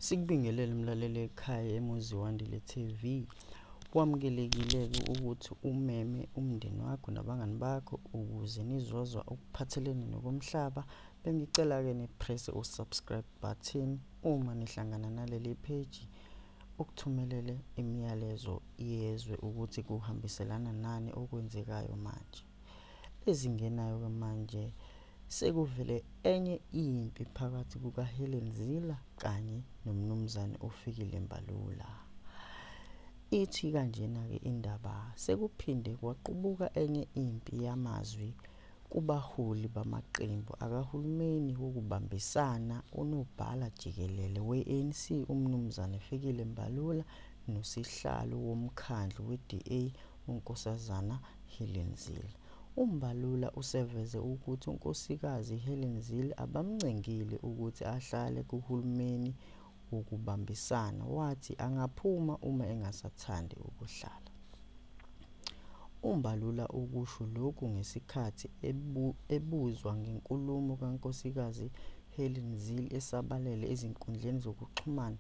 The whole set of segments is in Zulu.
Sikubingelele mlaleli ekhaya emuzi wandile TV. Kwamukelekile-ke ukuthi umeme umndeni wakho nabangani bakho ukuze nizozwa okuphathelene nokomhlaba. Bengicela-ke niprese u-subscribe button uma nihlangana naleli page ukuthumelele imiyalezo yezwe ukuthi kuhambiselana nani okwenzekayo manje. Ezingenayo-ke manje sekuvele enye impi phakathi kukaHelen Zila kanye noMnumzane uFikile Mbalula. Ithi kanjena-ke indaba sekuphinde kwaqubuka enye impi yamazwi kubaholi bamaqembu akahulumeni wokubambisana unobhala jikelele we-ANC uMnumzane Fikile Mbalula nosihlalo womkhandlu we-DA uNkosazana Helen Zille. UMbalula useveze ukuthi uNkosikazi Helen Zille abamncengile ukuthi ahlale kuhulumeni wokubambisana, wathi angaphuma uma engasathandi ukuhlala. UMbalula ukusho lokhu ngesikhathi ebu, ebuzwa ngenkulumo kaNkosikazi Helen Zille esabalele ezinkundleni zokuxhumana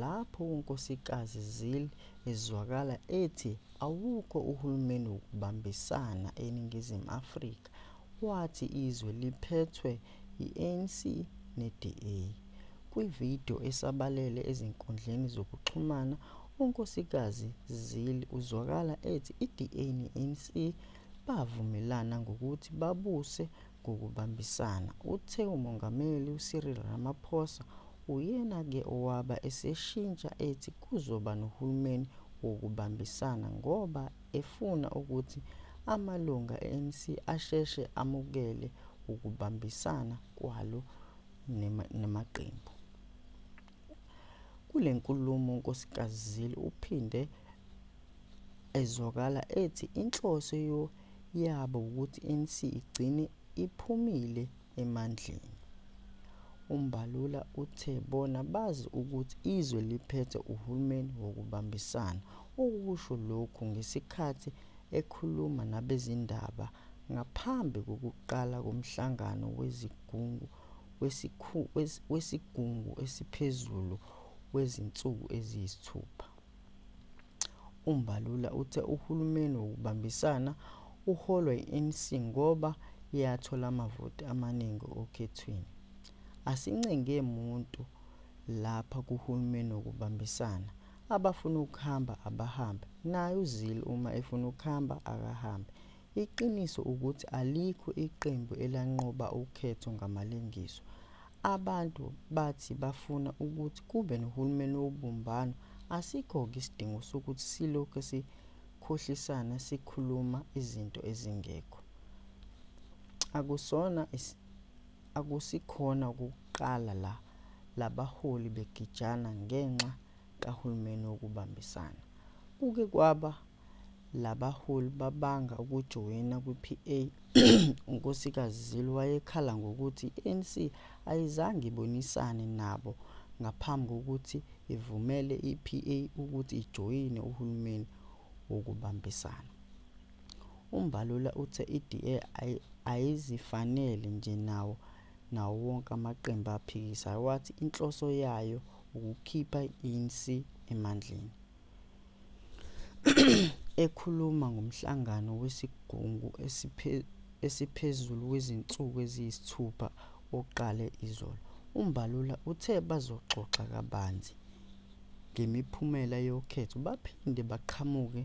lapho uNkosikazi Zille ezwakala ethi awukho uhulumeni wokubambisana eNingizimu Afrika wathi izwe liphethwe yi-ANC ne-DA. Kwi-video esabalele ezinkundleni zokuxhumana, uNkosikazi Zille uzwakala ethi i-DA ne-ANC bavumelana ngokuthi babuse ngokubambisana. Uthe uMongameli uCyril Ramaphosa uyena ke owaba eseshintsha ethi kuzoba nohulumeni wokubambisana ngoba efuna ukuthi amalunga e-ANC asheshe amukele ukubambisana kwalo namaqembu. Kule nkulumo uNkosikazi Zille uphinde ezwakala ethi inhloso yabo ukuthi i-ANC igcine iphumile emandleni. UMbalula uthe bona bazi ukuthi izwe liphethe uhulumeni wokubambisana. Ukusho lokhu ngesikhathi ekhuluma nabezindaba ngaphambi kokuqala komhlangano wezigungu wesigungu esiphezulu wezinsuku eziyisithupha. UMbalula uthe uhulumeni wokubambisana uholwa yi-ANC ngoba yathola amavoti amaningi okhethweni. Asincenge muntu lapha kuhulumeni wokubambisana, abafuna ukuhamba abahambe, naye uzile uma efuna ukuhamba akahambe. Iqiniso ukuthi alikho iqembu elanqoba ukhetho ngamalengiso. Abantu bathi bafuna ukuthi kube nohulumeni wobumbano, asikho-ke isidingo sokuthi silokhe sikhohlisana sikhuluma izinto ezingekho. Akusona akusikhona ukuqala la labaholi begijana ngenxa kahulumeni wokubambisana. Kuke kwaba Labaholi babanga ukujoyina kwiPA uNkosikazi Zille wayekhala ngokuthi i-ANC ayizange ibonisane nabo ngaphambi kokuthi ivumele iPA ukuthi ijoyine uhulumeni wokubambisana. UMbalula uthe iDA ayizifanele nje nawo nawo wonke amaqembu aphikisayo wathi inhloso yayo ukukhipha i-ANC emandleni. Ekhuluma ngomhlangano wesigungu esiphezulu wezinsuku eziyisithupha oqale izolo, uMbalula uthe bazoxoxa kabanzi ngemiphumela yokhetho baphinde baqhamuke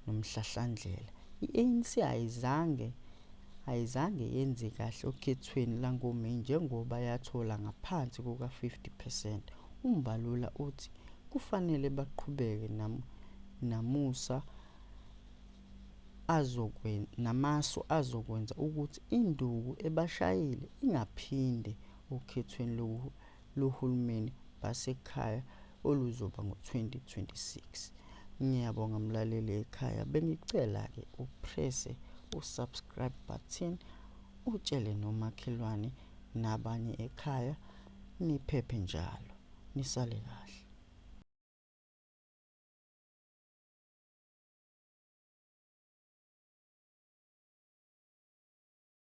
nomhlahlandlela. I-ANC ayizange ayizange yenze kahle okhethweni langoMeyi njengoba yathola ngaphansi kuka-50 percent. UMbalula uthi kufanele baqhubeke nam, namusa azokwen, namasu azokwenza ukuthi induku ebashayile ingaphinde okhethweni loku, lohulumeni basekhaya oluzoba ngo-2026. Ngiyabonga mlaleli ekhaya, bengicela-ke uprese u-subscribe button utshele nomakhelwane nabanye ekhaya niphephe njalo. nisale kahle